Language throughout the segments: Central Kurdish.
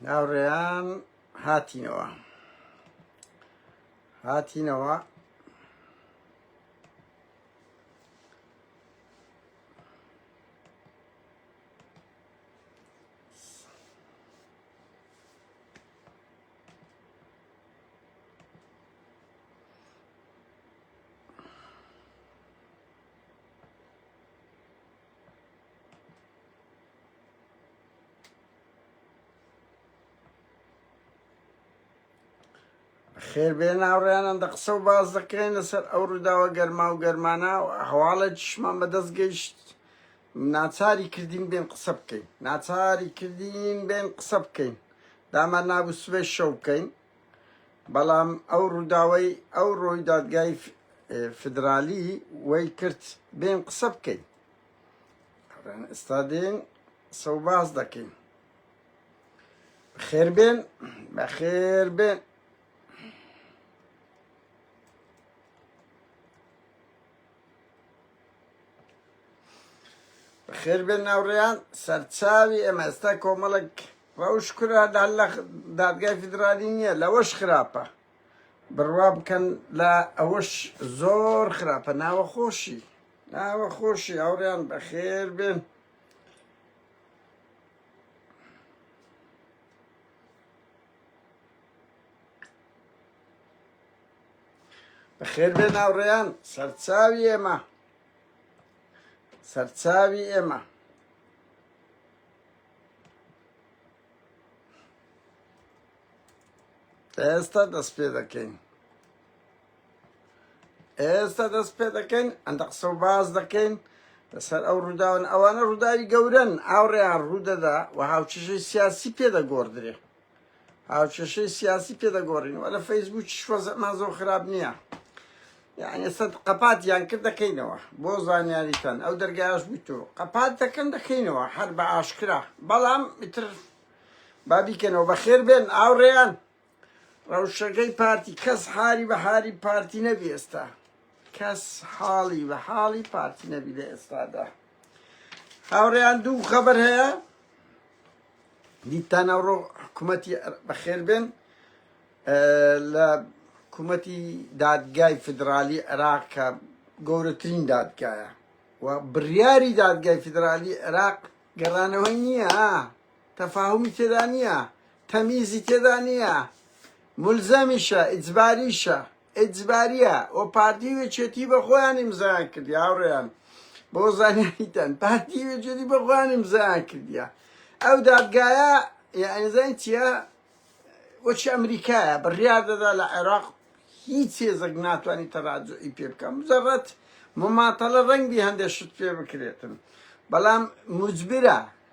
ناوڕێیان هاتینەوە هاتینەوە خێر بێ ناوڕیانان دە قسە و باز دەکرێن لەسەر ئەو ڕووداوە گەرما و گەرمانە و هەواڵێکیشمان بەدەست گەیشت ناچاری کردین بێن قسە بکەین ناچاری کردین بێن قسە بکەین دامان نابوو سبێ شەو بکەین بەڵام ئەو ڕووداوەی ئەو ڕۆی دادگای فدرالی وەی کرد بێن قسە بکەین ئەڵێن ئێستا دێن سەو باز دەکەین خێر بێن بە خێر بێن خێر بێن ناوڕیان سەرچاوی ئێمە ئێستا کۆمەڵک ڕەوش کورە لە دادگای فیدرالی نییە لەوەش خراپە بڕوا بکەن لە ئەوەش زۆر خراپە ناوە خۆشی ناوە خۆشی هاوڕێیان بەخێر بێن بەخێر بێن هاوڕێیان سەرچاوی ئێمە سەرچاوی ئێمە ئێستا دەست پێ دەکەین ئێستا دەست پێ دەکەین ئەندە قسە و باز دەکەین لەسەر ئەو ڕووداون ئەوانە ڕووداوی گەورن ئاوڕێیان ڕوودەدا و هاوچشەی سیاسی پێدەگۆڕدرێ هاوچشەی سیاسی پێدەگۆڕین و لە فەیسبوو شوەزەمان زۆر خراپ نییە یعنی ئێستا قەپات یان کرد دەکەینەوە بۆ زانیاریتان ئەو دەرگایش بوویت و قەپات دەکەن دەکەینەوە هەر بە ئاشکرا بەڵام ئیتر بابیکەنەوە بەخێر بێن ئاوڕێیان ڕەوشەکەی پارتی کەس حالی بە حالی پارتی نەبی ئێستا کەس حاڵی بە حاڵی پارتی نەبی لە ئێستادا هاوڕێیان دوو خەبەر هەیە دیتان ئەوڕۆ حکوومەتی بەخێر بێن لە حکوومەتی دادگای فدرالی عێراق کە گەورەترین دادگایە و بڕیاری دادگای فدرالی عێراق گەڕانەوەی نییە تەفاهومی تێدا نیە تەمیزی تێدا نیە مولزەمیشە ئیجباریشە ئیجباریە و پارتی و یەکێتی بەخۆیان ئیمزایان کردیە هاوڕێیان بۆ زانیاریتان پارتی و یەکێتی بەخۆیان ئیمزایان کردیە ئەو دادگایە یعنیزان چیە وەچی ئەمریکایە بڕیار دەدا لە عێراق هیچ هێزەک ناتوانانی تەراجعی پێ بکەم زەڕەت مماتەڵە ڕەنگی هەندێک شت پێ بکرێتن بەڵام مجبرە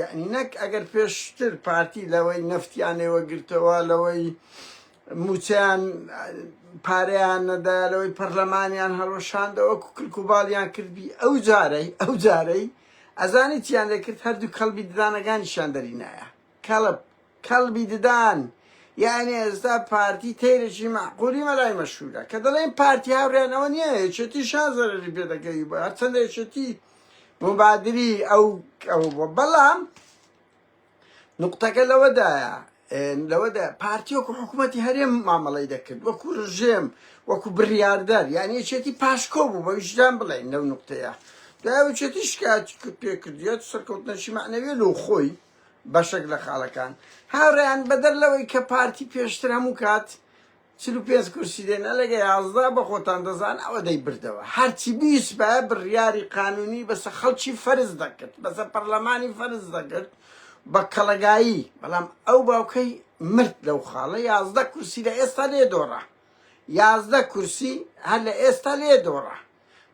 یەعنی نەک ئەگەر پێشتر پارتی لەوەی نەفتیان ئێوە گرتەوە لەوەی موچەیان پارەیان نەدا لەوەی پەرلەمانیان هەڵۆشاندەوە کوکلک و باڵیان کردبی ئەو جارەی ئەو جارەی ئەزانی چیان دەکرد هەردوو کەڵبی ددانەکانیشان دەرینایە کەڵب کەڵبی ددان یعنی ئێستا پارتی تەیرێکی معقولی مەلای مەشهورە کە دەڵێن پارتی هاوریانەوە نییە یەکێتی شان زەرری پێ دەکەوی بە هەرچەندە یەکێتی مبادری ئەو ئەو بەڵام نقطەکە لەوەدایە لەوەدا پارتی وەکو حکوومەتتی هەرێم مامەڵی دەکرد وەکو ڕژێم وەکو بڕاردەر یعنی یەکێتی پاشکۆ بوو بە ویژدان بڵێن لەو نقطەیە داوچێتی شکات پێکردیت سەرکەوتنەشی معنەوێ لەو خۆی بەشێک لە خاڵەکان هاوڕیان بەدەر لەوەی کە پارتی پێشتر هەموو کات چل و پێنج کورسی دێ نەلەگە یازدە بەخۆتان دەزان ئەوە دەی بردەوە هەرچی بیسبایە بریاری قانونی بەسە خەڵکی فەرز دەکرد بەسە پەرلەمانی فەرز دەکرد بە کەڵەگایی بەڵام ئەو باوکەی مرد لەو خاڵە یازدە کورسی لە ئێستا لێ دۆڕا یازدە کورسی هەر لە ئێستا لێ دۆڕا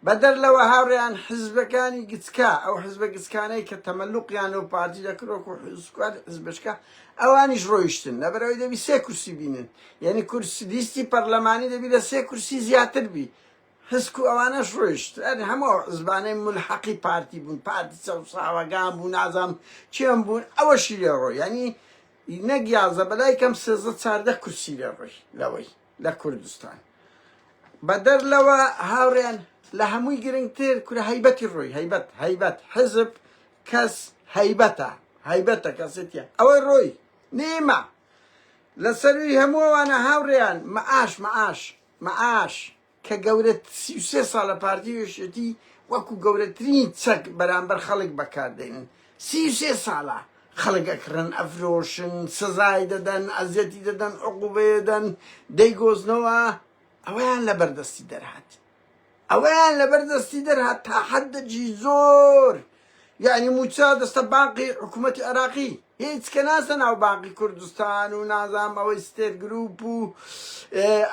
بەدەر لەوە هاوڕێیان حزبەکانی گچکە ئەو حزبە گچکانەی کە تەمەلوقیان لەو پارتی لە کرۆک و حزکات حزبشکە ئەوانیش ڕۆیشتن لەبەرەوەی دەبی سێ کورسی بینن یعنی کورسی لیستی پەرلەمانی دەبی لە سێ کورسی زیاتر بی حسک و ئەوانەش ڕۆیشت هەموو عزبانەی ملحقی پارتی بوون پارتی چەساوەگان بوو نازام چێم بوون ئەوەشی لێ ڕۆ ینی نەگیازە بەلای کەم سێزە چاردە کورسی لێ ڕۆی لەوەی لە کوردستان بەدەر لەوە هاوڕێیان لە هەمووی گرنگتر کورە هەیبەتی ڕۆی هەیبەت هەیبەت حزب کەس هەیبەتە هەیبەتە کەسێتە ئەوەی ڕۆی نیمە لە سەروی هەمووانە هاوڕێیان مەعاش مەعاش مەعاش کە گەورە سی سێ ساڵە پارتی وێشێتی وەکو گەورەترین چەک بەرامبەر خەڵک بەکاردێنن سی و سێ ساڵە خەڵک ئەکڕن، ئەفرۆشن، سزای دەدەن، ئەزیەتی دەدەن، عقوبەیەدەن، دەیگۆزنەوە، ئەوەیان لەبەر دەستی دەرهات، ئەوەیان لەبەر دەستی دەرهات تا حەددەکی زۆر، یەعنی مووچە دەستە بانقی حکوومەتی عێراقی، هیچ کە ناچتە ناو بانقی کوردستان و نازانم ئەوەی ستێر گرووپ و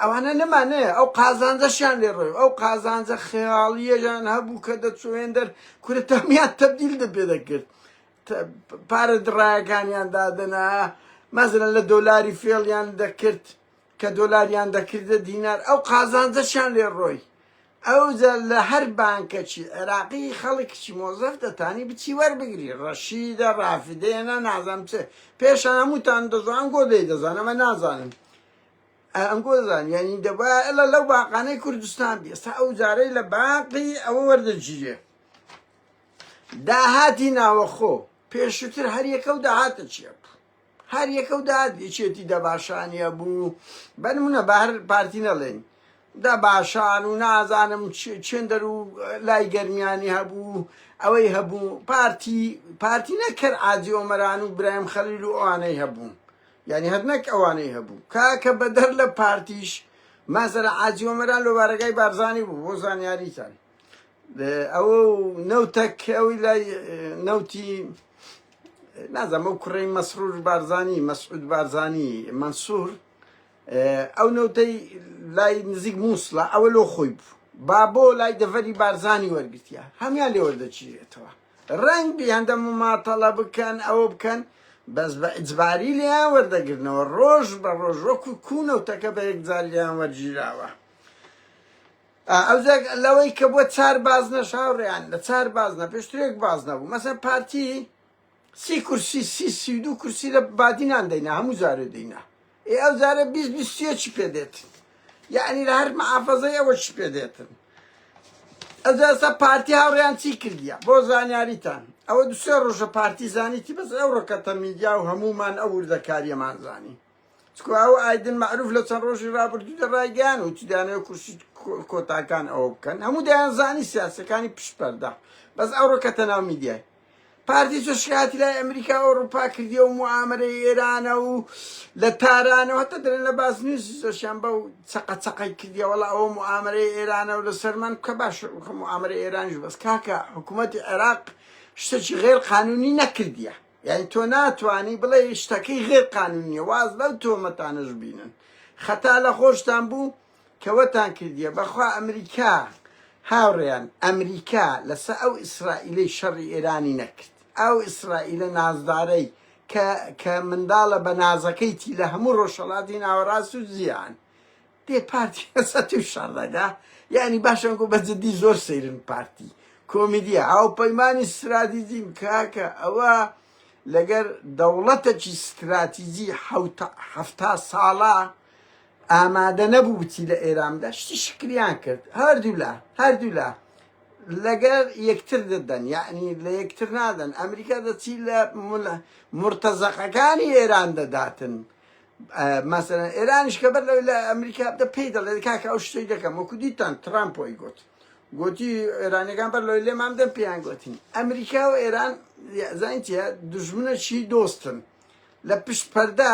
ئەوانە نەما نەیە، ئەو قازانجەشیان لێ ڕۆی، ئەو قازانجە خەیاڵییەیان هەبوو کە دەچوو هێندەر کورە تەمیان تەبدیل دە پێ دەکرد پارە دڕایەکانیان دادەنا مەزرە لە دۆلاری فێڵیان دەکرد کە دۆلاریان دەکردە دینار ئەو قازانجەشیان لێ ڕۆی ئەوجا لە هەر بانکەکی عێراقی خەڵکیی مۆزەف دەتانی بچی وەربگری ڕەشیدە ڕافدێنە نازانم چ پێشان هەمووتان دەزان گۆ دەی دەزانەمە نازانم ئەنگۆزان یانی دەبا ئەلا لەو باقانەی کوردستان بی ئێستا ئەو جارەی لە باقی ئەوە وەردەگیرێ داهاتی ناوەخۆ پێشوتر هەر یەکە و داهاتە چیە بوو هەر یەکە و داهات یەکێتی دەباشانە بوو بەنمونە بە هەر پارتی نەڵێن دا باشان و نازانم چێندەر و لای گەرمیانی هەبوو ئەوەی هەبوو پارتی پارتی نەکرد ئاجی ئۆمەران و برایم خەلیل و ئەوانەی هەبوون یانی هەر نەک ئەوانەی هەبوو کاکە بەدەر لە پارتیش مازەرە عاجی ئۆمەران لۆ بارەگای بارزانی بوو بۆ زانیاریتان ئەوە نەوتەک ئەوی لای نەوتی نازم ئەو کوڕی مەسرور بارزانی مەسعود بارزانی منصور ئەو نەوتەی لای نزیک مووسڵە ئەوە لۆ خۆی بوو با بۆ لای دەڤەری بارزانی وەرگتیە هەمان لێ وەردەچیرێتەوە ڕەنگبی هەندە موماتەڵە بکەن ئەوە بکەن بەس بە ئجباری لێیان وەردەگرنەوە ڕۆژ بە ڕۆژ وەکو کوونەوتەکە بە یەکجار لێیان وەرگیراوە ئەوزێک لەوەی کە بۆ چار باز نەشاوڕیان لە چار باز نە پێشترێک باز نەبوو مەسەر پارتی سی کورسی سی سی دو کورسی لە بادینان دەینا هەموو جارێ دەینا ئێ ئەو جارە بیست بیست سێ چی پێ دێتن یعنی لە هەر محافەزەی ئەوە چی پێ دێتن ئەجا ئێستا پارتی هاوڕێیان چی کردیە بۆ زانیاریتان ئەوە دو سێ ڕۆژە پارتی زانیتی بەس ئەو ڕکەتە میدیا و هەمومان ئەو وردەکاریەمان زانی چکو ئەو ئایدن معروف لە چەند ڕۆژی ڕابردوودا ڕایگەیان و چدانەوە کورسی کۆتاکان ئەوە بکەن هەموو دەیان زانی سیاسەکانی پشپەردا بەس ئەو ڕکەتە ناو میدیای پارتی زۆر شکایەتی لای ئەمریکا و ئەوروپا کردیە و موامەرەی ئێرانە و لە تارانەوە هەتا دەرێن لە باز نیوزی زۆرشیان بەو چەقە چەقەی کردیە وەڵا ئەوە موامەرەی ئێرانە و لەسەر من کە باش موامەرە ئێرانش بەس کاکە حکوومەتی عێراق شتێکی غێر قانونی نەکردیە یعنی تۆ ناتوانانی بڵێ شتەکەی غێر قانونیە واز لەو تۆمەتانەش بینن خەتا لە خۆشتان بوو کە وەتان کردیە بەخوا ئەمریکا هاوڕێیان ئەمریکا لەسە ئەو ئیسرائیلەی شەڕی ئێرانی نەکرد ئەو ئیسرائیلە نازدارەی کە کە منداڵە بە نازەکەیتی لە هەموو ڕۆژهەڵاتی ناوەڕاست و زیان دێ پارتی لەسە توی شەڕ دەگا یعنی باشم گو بە جدی زۆر سەیرن پارتی کۆمیدیا هاوپەیمانی ستراتیجیم کاکە ئەوە لەگەر دەوڵەتەکی ستراتیجی حەوتە هەفتا ساڵە ئامادە نەبوو بچی لە ئێرامدا شتی شکریان کرد هەردوولا هەردوولا لەگەر یەکتر دەدەن یعنی لە یەکتر نادەن ئەمریکا دەچی لە مرتەزەقەکانی ئێران دەداتن مەسەرەن ئێرانیش کە بەر لەوەی لە ئەمریکا بدە پێی دەڵێ کاکە ئەو شتەی دەکەم وەکو دیتان ترامپۆی گوت گوتی ئێرانەکان بەر لەوەی لێمام دەم پێیان گوتین ئەمریکا و ئێران زانین چیە دژمنە چی دۆستن لە پشت پەردا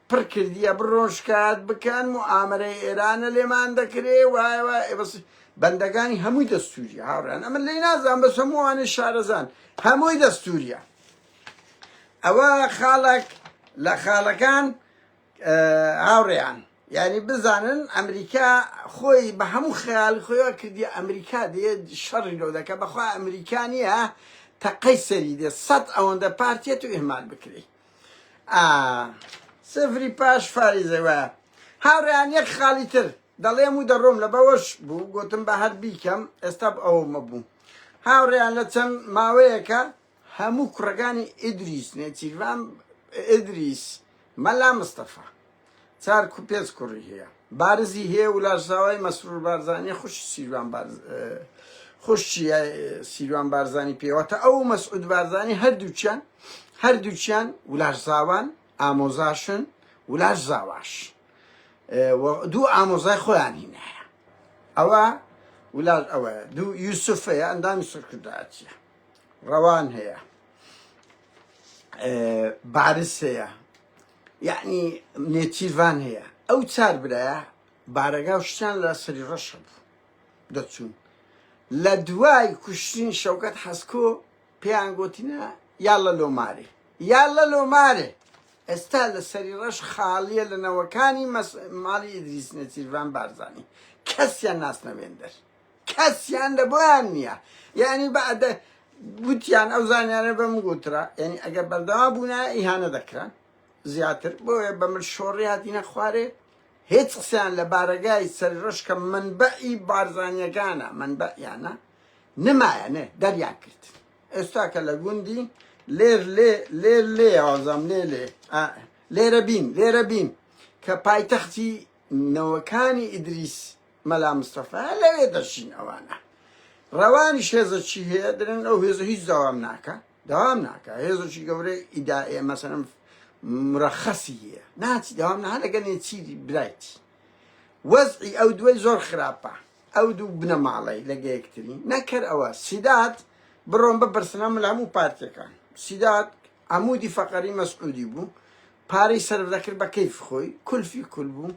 پڕ کردیە بڕۆن شکایەت بکەن موئامەرەی ئێرانە لێمان دەکرێ وایە وایە بەس بەندەگانی هەمووی دەستووریە هاوڕان ئەمە لێ نازان بەس هەمووانێ شارەزان هەمووی دەستووریە ئەوە خاڵک لە خاڵەکان هاوڕێیان یعنی بزانن ئەمریکا خۆی بە هەموو خیال خۆیە کردی ئەمریکا دێ شەڕی لۆ دەکە بەخوا ئەمریکا نییە تەقەی سەری دێ سەد ئەوەندە پارتێت و ئهمال بکرێت ئا سفری پاش فاریزە وایە هاوڕێیان یەک خاڵی تر دەڵێم و دەڕۆم لە بەوەش بوو گوتم بە هەر بیکەم ئێستا ئەومە بوو هاوڕێیان لە چەند ماوەیەکە هەموو کوڕەکانی ئیدریس نێچیرڤان ئیدریس مەلا مستەفا چار کو پێنج کوڕی هەیە بارزی هەیە و لاشزاوای مەسرور بارزانیە خوشی سیروان بارز خوشی سیروان بارزانی پێوەتە ئەو مەسعود بارزانی هەردووچیان هەردووچیان ولاشزاوان ئامۆزاشن ولاشزاواش دوو ئامۆزای خۆیان هینایە ئەوە ولاش ئەوە دوو یوسف هەیە ئەندامی سەرکردایەتە ڕەوان هەیە بارس هەیە یەعنی نێچیرڤان هەیە ئەو چار برایە بارەگا و شتیان لە سەری ڕەش هەبوو دەچوون لە دوای کوشتنی شەوکەت حەسکۆ پێیان گوتینە یا لە لۆمارێ یا لە لۆمارێ ئێستا لە سەری ڕەش خاڵیە لە نەوەکانی ماڵی ئیدریس نێچیرڤان بارزانی کەسیان ناسنەوێندەر کەسیان لە بۆیان نییە یانی بەعدە گوتیان ئەو زانیانە بەم گوترا یعنی ئەگەر بەردەوا بوونا ئیهانە دەکران زیاتر بۆیە بە من شۆڕی هاتینە خوارێ هیچ قسەیان لە بارەگای سەری ڕۆژ کە منبعی بارزانیەکانە منبعیانە نمایە نێ دەریان کرد ئێستا کە لە گوندی لێر لێ لێر لێ ئازام لێ لێ لێرە بین لێرە بین کە پایتەختی نەوەکانی ئیدریس مەلا مستەفا لەوێ دەرچین ئەوانە ڕەوانیش هێزەکی هەیە درن ئەو هێزە هیچ داوام ناکە داوام ناکە هێزەکی گەورەی ئیدائێ مەسەرم مرەخەسی هەیە ناچی داوام نها دەگەنێ چی برایتی وەزعی ئەو دوای زۆر خراپە ئەو دوو بنەماڵی لەگەیەکترین نەکەر ئەوە سیدات بڕۆم بە بەرسنە ملام و پارتەکان سیدات عمودی فەقەری مەسعودی بوو پارەی سەرف دەکرد بە کەیف خۆی کولفی کول بوو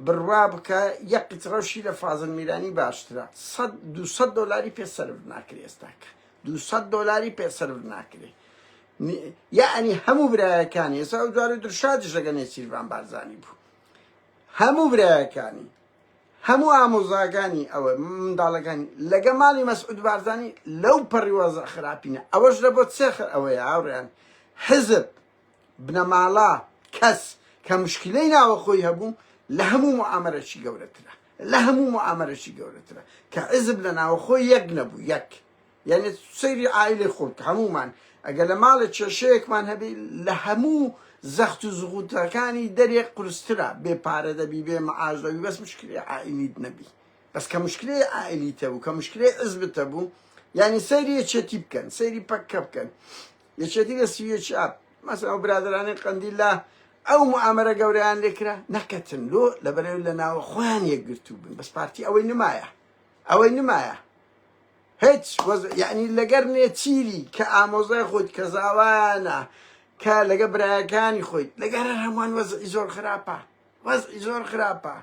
بڕوا بکە یەک قیتڕەو شی لە فازل میرانی باشترە سەد دوو سەد دۆلاری پێ سەرف ناکرێ ئێستاکە دوو سەد دۆلاری پێ سەرف ناکرێ یعنی هەموو برایەکانی ئێستا ئەو جوارە درشادش لەگە نێچیرڤان بارزانی بوو هەموو برایەکانی هەموو ئامۆزاگانی ئەوە منداڵەکانی لەگە ماڵی مەسعود بارزانی لەو پەڕیوەزە خراپینە ئەوەش لە بۆ سێخر ئەوەیە هاوڕیان حزب بنەماڵە، کەس، کە مشکیلەی ناوە خۆی هەبوو لە هەموو موعامەرەکی گەورەترە لە هەموو موعامەرەکی گەورەترە کە حیزب لە ناوە خۆی یەک نەبوو یەک یەعنی سەیری عائیلەی خۆ بکە هەموومان ئەگەر لە ماڵێ کێشەیەکمان هەبی لە هەموو زەخت و زغوتەکانی دەرێ قورسترە بێ پارە دەبی بێ معاش دەبی بەس مشکلی عائیلیت نەبی بەس کە مشکلی عائیلیتە بوو کە مشکلی عزبتە بوو یعنی سەیری یەکێتی بکەن سەیری پەککە بکەن یەکێتی لە سویچ ئاپ مەسەن ئەو برادرانەی قەندیل لە ئەو معامرە گەورەیان لێکرا نەکەتن لۆ لە بەرەوی لە ناوە خۆیان یەکگرتوو بن بەس پارتی ئەوەی نمایە ئەوەی نمایە هیچ یعنی لەگەر نێچیری کە ئامۆزای خۆیت کە زاوایانە کە لەگە برایەکانی خۆیت لەگەرە هەمووان وەزعی زۆر خراپە وەزعی زۆر خراپە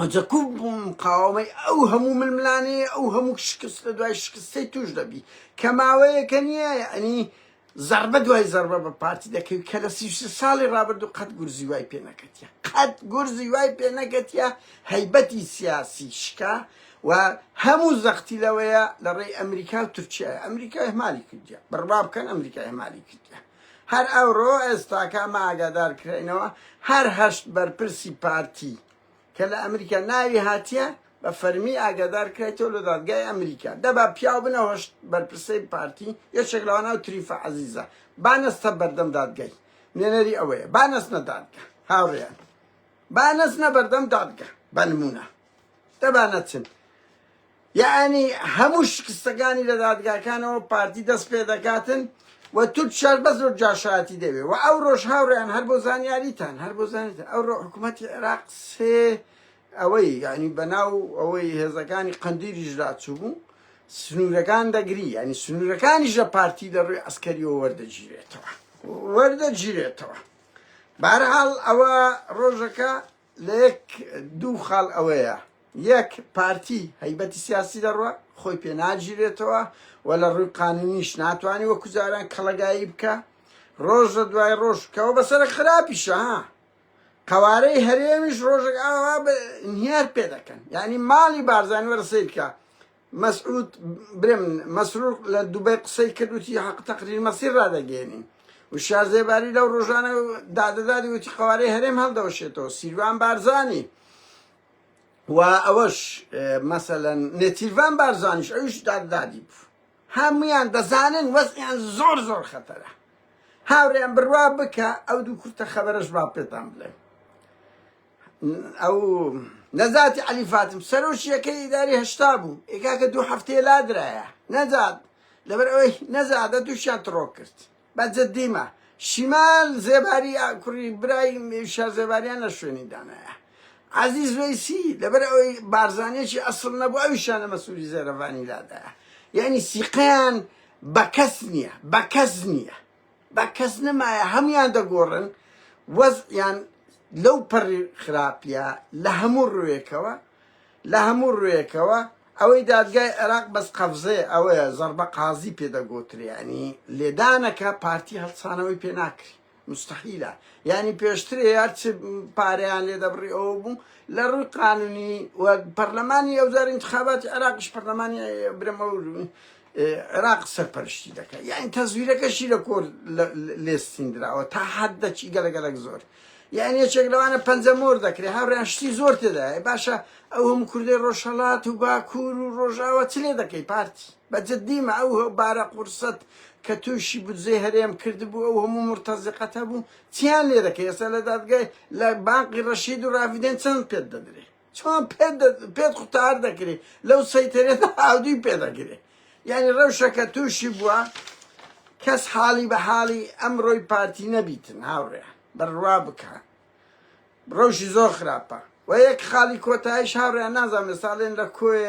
عجکوب بوو مقاوەمەی ئەو هەموو ململانێ ئەو هەموو شکست لە دوای شکستی توش دەبی کە ماوەیەکە نییە ئەنی زربە دوای زربە بە پارتی دەکەوی کە لە سی ساڵی ڕابردوو قەت گورزی وای پێ نەکەتە قەت گورزی وای پێ نەکەتە هەیبەتی سیاسی شکا و هەموو زەختی لەوەیە لە ڕێی ئەمریکا و تورکیا ئەمریکای مالی کردیا بڕوا بکەن ئەمریکای مالی کردیا هەر ئەوڕۆ ئێستاکە ئەمە ئاگادار کرێنەوە هەر هەشت بەرپرسی پارتی کە لە ئەمریکا ناوی هاتیە بە فەرمی ئاگادار کرێتەوە لە دادگای ئەمریکا دەبا پیاو بنە هەشت بەرپرسەی پارتی یەکێک لەوانە و تریفە عەزیزە بانەستە بەردەم دادگای نوێنەری ئەوەیە بانەست نەدادگە هاوڕێیان بانەست نە بەردەم دادگە بە نمونە دەبانەچن یەعنی هەموو شکستەکانی لە دادگاکانەوە پارتی دەست پێ دەکاتن و تورک شار بەس لۆ جاشایەتی دەوێ و ئەو ڕۆژ هاوڕێیان هەر بۆ زانیاریتان هەر بۆ زانیتان ئەو ڕۆ حکوومەتی عێراق سێ ئەوەی یعنی بەناو ئەوەی هێزەکانی قندیلیش لاچوو بوو سنوورەکان دەگری ینی سنوورەکانیش لە پارتی لە ڕووی ئەسکەریەوە وەردەگیرێتەوە وەردەگیرێتەوە بارحاڵ ئەوە ڕۆژەکە لە یەک دوو خاڵ ئەوەیە، یەک پارتی هەیبەتی سیاسی لە ڕووە خۆی پێ ناگیرێتەوە و لە ڕووی قانوونیش ناتوانێ وەکوو جاران کەڵەگایی بکا، ڕۆژ لە دوای ڕۆژ کە ئەوە بەسەرە خراپیشە ها، قەوارەی هەرێمیش ڕۆژێک ئاوا ئینهیار پێ دەکەن، یانی ماڵی بارزانی وەرە سەیر کە مەسعود برێم مەسرور لە دوبەی قسەی کرد وتی حق تقریر مەسیر ڕادەگەێنین و شار زێباری لەو ڕۆژانە دادەدادی وتی قوارەی هەرێم هەڵدەوەشێتەوە سیروان بارزانی و ئەوەش مەسەەن نێتیڤان بارزانیش ئەوش دادادی بوو هەمویان دەزانن وەزیان زۆر زۆر خەتەرە هاوریان بڕوا بکە ئەو دوو کورتە خەبەرش با پێتان بڵێ ئەو نەزاتی علی فاتم سەرۆشیەکە ئیداری هەشتا بوو ئێکاکە دوو هەفتەیە لادرایە نەزات لەبەر ئەوەی نەزادە دووشیان تڕۆ کرد بە جددیمە شیمال زێباری کوڕی برای شار زێباریان لە شوێنی دانایە عزیز ویسی لەبەر ئەوەی بارزانێکی ئەسڵ نەبوو ئەوی شانە مەسووری زێرەڤانی لادایە یعنی سیقیان بە کەس نییە بە کەس نییە با کەس نەمایە هەموان دەگۆڕن وەزعیان لەو پەڕی خراپە لە هەموو ڕوێکەوە لە هەموو ڕوێکەوە ئەوەی دادگای عێراق بەس قەفزێ ئەوەیە زەربە قازی پێدەگۆتریانی لێدانەکە پارتی هەڵسانەوەی پێ ناکری مستحیلە ینی پێشترێ یارچ پارەیان لێ دەبڕی ئەوە بوو لە ڕووی قانونی و پەرلەمانی ئەوزار انتخاباتی عراقش پەرلەمانی برەمە عێراق سەرپەرشتی دەکات یاین تەزویرەکەشی لە کۆر لێستیندراوە تا حد دەچی گەلە گەلک زۆر یان یەکێک لەوانە پەنجە مۆر دەکرێت هاوریان شتی زۆر تێدا باشە ئەو هەم کوردی ڕۆژهڵات و باکوور و ڕۆژاوە چ لێ دەکەی پارتی بەجددیمە ئەو بارە قورسەت کە تووشی بودجەی هەرێم کردبوو ئەو هەموو مرتەزیقەت هەبوو چیان لێ دەکەی ئێستا لە دادگای لە بانقی ڕەشید و ڕاڤدێن چەند پێت دەدرێت چۆن پێت پێت قوتار دەکرێت لەو سەیتەرێت ئاودی پێ دەگرێت یعنی ڕەوشەکە تووشی بووە کەس حاڵی بە حاڵی ئەم ڕۆی پارتی نەبیتن هاوڕێ بڕوا بکە ڕەوشی زۆر خراپە و یەک خاڵی کۆتایش هاوڕێن نازانم ساڵێن لە کۆێ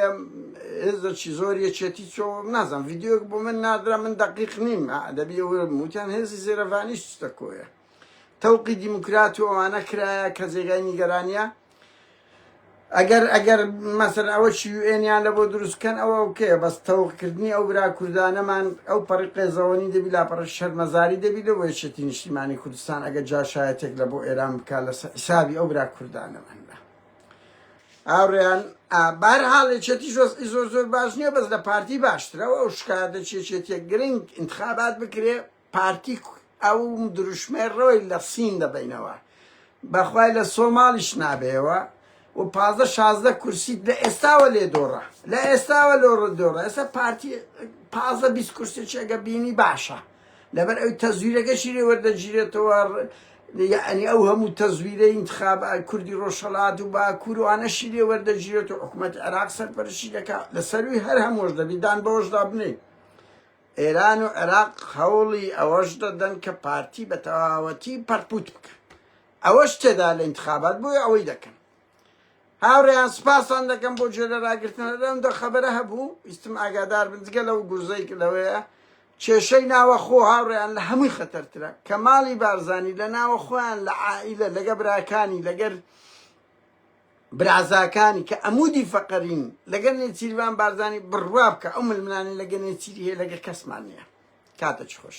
هێزەکی زۆر یەکێتی چۆ نازانم یددیوک بۆ من نادرا من دقیق نیم دەبی وتیان هێزی زێرەڤانیش دەکۆە تەوقی دیموکرات و ئەوانە کرایە کە جێگای نیگەرانە ئەگەر ئەگەر مەسەر ئەوە یوئێنیان لە بۆ دروستکەن ئەوە ئەوکەیە بەس تەوقکردنی ئەو برا کوردانەمان ئەو پەڕی قێزەوەنی دەبی لاپەڕە شەرمەزاری دەبی لە وەیەکێتی نیشتیمانی کوردستان ئەگەر جاشایەتێک لە بۆ ئێران بکە لە حسابی ئەو برا کوردانەمان بە ئاڕیان بار حاڵێکێتی شۆستی زۆر زۆر باش نییە بەس لە پارتی باشترەوە ئەو شکاتە چێچێتە گرنگ انتخابات بکرێ پارتی ئەو دروشمەی ڕەوی لە سین دەبەینەوە بەخوای لە سۆماڵیش نابەیەوە و پازدە شازدە کورسیت لە ئێستاوە لێ دۆڕە لە ئێستاوە لۆ ڕدۆڕە ئێستا پارتی پازە بیست کورسی چێگە بینی باشە لەبەر ئەوی تەزویرەکەشی لێ وەردەگیرێتەوە یعنی ئەو هەموو تەزویرە انتخاب کوردی ڕۆژهەڵات و باکوروانەشی لێ وەردەگیرێت و حکوومەت عێراق سەرپەرشی دەکات لە سەروی هەر هەمۆش دەبی دان بەوەشدا بنێ ئێران و عێراق هەوڵی ئەوەش دەدەن کە پارتی بە تەواوەتی پەڕپووت بکەن، ئەوەش تێدایە لە ئینتخابات بۆیە ئەوەی دەکەن. هاوڕێیان سپاستان دەکەم بۆ گوێ لە راگرتن هەر ئەم دو خەبەرە هەبوو ویستم ئاگادار بن جگە لەو گورزەی کە لەوەیە کێشەی ناوەخۆ هاوڕێیان لە هەمووی خەتەرترە کە ماڵی بارزانی لە ناوەخۆیان لە عائیلە لەگە براکانی لەگەر برازاکانی کە عەمودی فەقەرین لەگەل نێچیرڤان بارزانی بڕوا بکە ئەو ململانێ لەگە نێچیری هەیە لەگە کەسمان نیە کاتە چ خۆش.